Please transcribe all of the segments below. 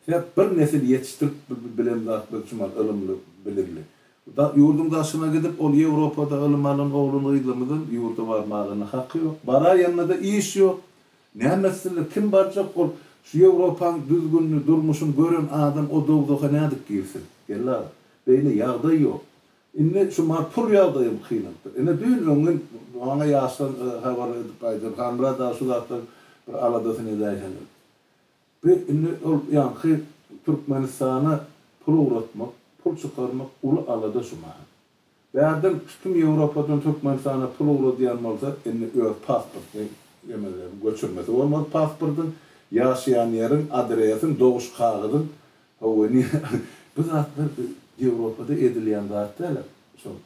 Sebäp bir nesil ýetişdirip bilen zat biz üçin bar, ylymly, bilimli. Ýurduň daşyna gidip, ol Ýewropada ylym alan oglan-gyzymyzyň ýurda barmagyna haky ýok. Baraýanda-da iş ýok. Näme etsinler, kim barjak ol? Şu Ýewropanyň düzgünini, durmuşyny gören adam o dowzaha nädip girsin? Geldi aga. Beýle ýagdaý ýok. Indi şu maňa pul ýagdaýym kynalypdyr. Ene düýn öňňin maňa ýaşdan habarly edip gaýdar. Halmyrat aga şu zatlar bir aladasyny edäýseňiz. Bi indi ol ýaňky Türkmenistana pul ugratmak, pul çykarmak uly alada şu maha. Bärden kim Ýewropadan Türkmenistana pul ugradýan bolsa indi öz pasportyny emele göçürmesi bolmaz pasportyň, ýaşaýan ýeriň, adresiň, doguşkagyzyň Hawa indi bu zatlar Ýewropada edilýän zat däl-a şol.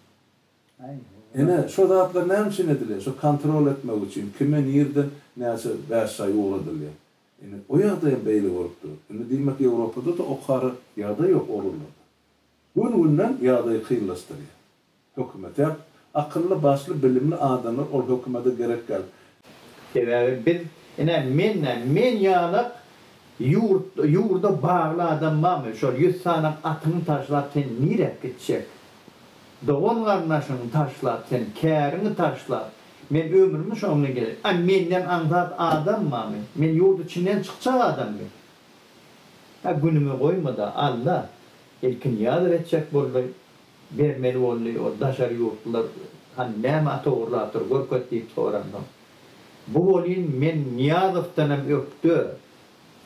Ine şo zatlar näme üçin edilýär? Şo kontrol etmek üçin kime nireden näçe bäş çaý ugradylýar. Indi o ýagdaý hem beýle bolup dur. Indi diýmek Ýewropada-da okara ýagdaý ýok oglanlarda. Gün-günden ýagdaýy kynlaşdyrýar. Hökümete. Akylly başly bilimli adamlar ol hökümede gerek däl. Sebäbi biz ine men nä men ýalak ýurt ýurda bagly adam barmy şol ýüz sanak atyňy taşlap sen nirek gitjek dogan garyndaşyňy taşlap sen käriňi taşlap men ömrümi şoň bilen ge a menden aňsat adam barmy men ýurt içinden çykjak adammy a günüme goýmada alla ilkinýazow etjek boldy bermeli boldy, ol daşary ýurtlular hany näme ata ogurlapdyr görket diýip soranda, bu welin men Nyýazowdan hem ökde,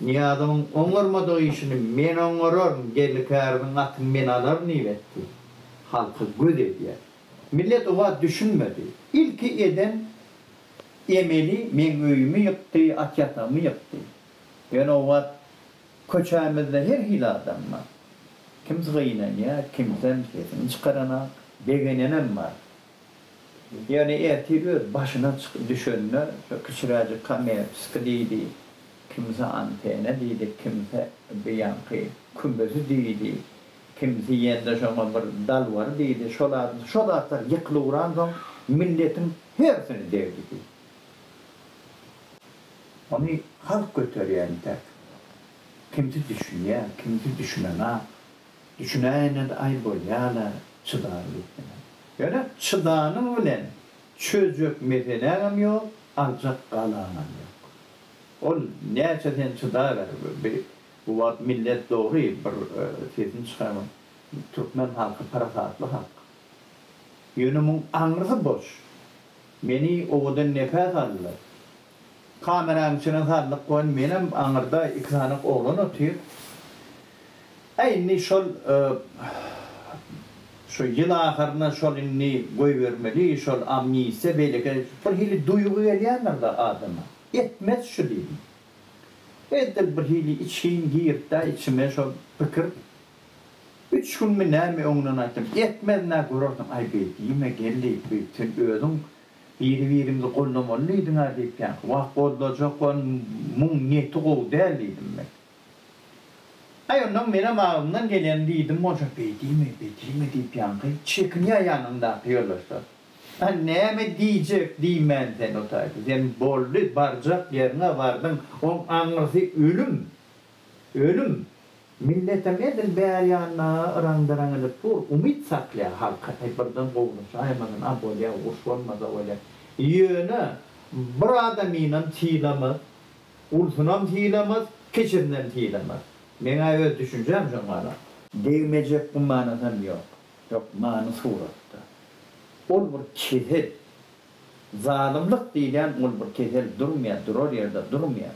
Nyýazowyň oňarmadyk işini men oňararyn, Geldi käriziň atyny men alaryn diýip etdi. Halka göz edýär. Millet o wagt düşünmedi. Ilki eden emeli meň öýümi ýykdy, at ýatagymy ýykdy. Ýöne o wagt Köçämizde her hili adam bar. Kimsi gynanýar, kimsem sesini çykaranak, begenenem bar. Ýöne ertir öz başyna düşende şo kiçiräjik kamerçiski diýdi, kimsi antena diýdi, kimsi bu ýaňky kümesi diýdi, kimsi ýene-de şoňa bir dalbar diýdi, şo zatlar ýykyluransoň milletiň hersini degdi diýdi. Ony halk göterýär entek. Kimsi düşünýär, kimsi düşünenak. Düşünäýene-de aý bolýa-la, çydar diýip bilen. Ýöne çydanyň bilen çözjek meseläňem ýok, aljak galaňam ýok. Ol näçe sen çydaber, bir bu wagt millet dogry bir sesini çykarman, türkmen halky parasatly halk. Ýöne muň aňrysy boş. Meni owadan nepäs aldy. Kameranyň içine saldyk we menem aňyrda iki sanak oglan otyr. Hä indi şol şu ýyl ahyryna şol indi goýbermeli, şol amnistiýa beýleki bir hili duýgy gelýändir-de adama. Etmez şu diýdim. Edil bir hili içgin giripd-ä içime şol pikir. Üç günmi nämi öňünden aýtdym. Etmez-nä görersiň. Aý beý diýme geldi, beý sen özüň biri-birimizi goldamaly diýdiň-ä diýipýän. Wah goldajak bol, muň niýeti gowy däl diýdim men. Aý onnoň menem agzymdan gelenini diýdim bolsa, beý diýme, beý diýme diýipýanky, çekinýä ýanyňdaky ýoldaşlar. A näme diýjek diýmän sen otaýda. Sen boldy, barjak ýeriň-ä bardyň, oň aňyrsy ölüm. Ölüm, milletem edil bäri ýanyna yraňda-yraňanyp dur, umyt saklaýar halka, äý, birden gowulaşaýmasyn, a bolýa, uruş bolmasa bolýa. Ýöne, bir adamynam sylamaz, ulusunam sylamaz, kiçisinam sylamaz. Meň-ä öz düşünjäm şoň galak. Degmejek gumanasam ýok. Ýok, many suratda. Ol bir kesel. Zalymlyk diýilýän ol bir kesel, durmaýar, durar ýerde durmaýar.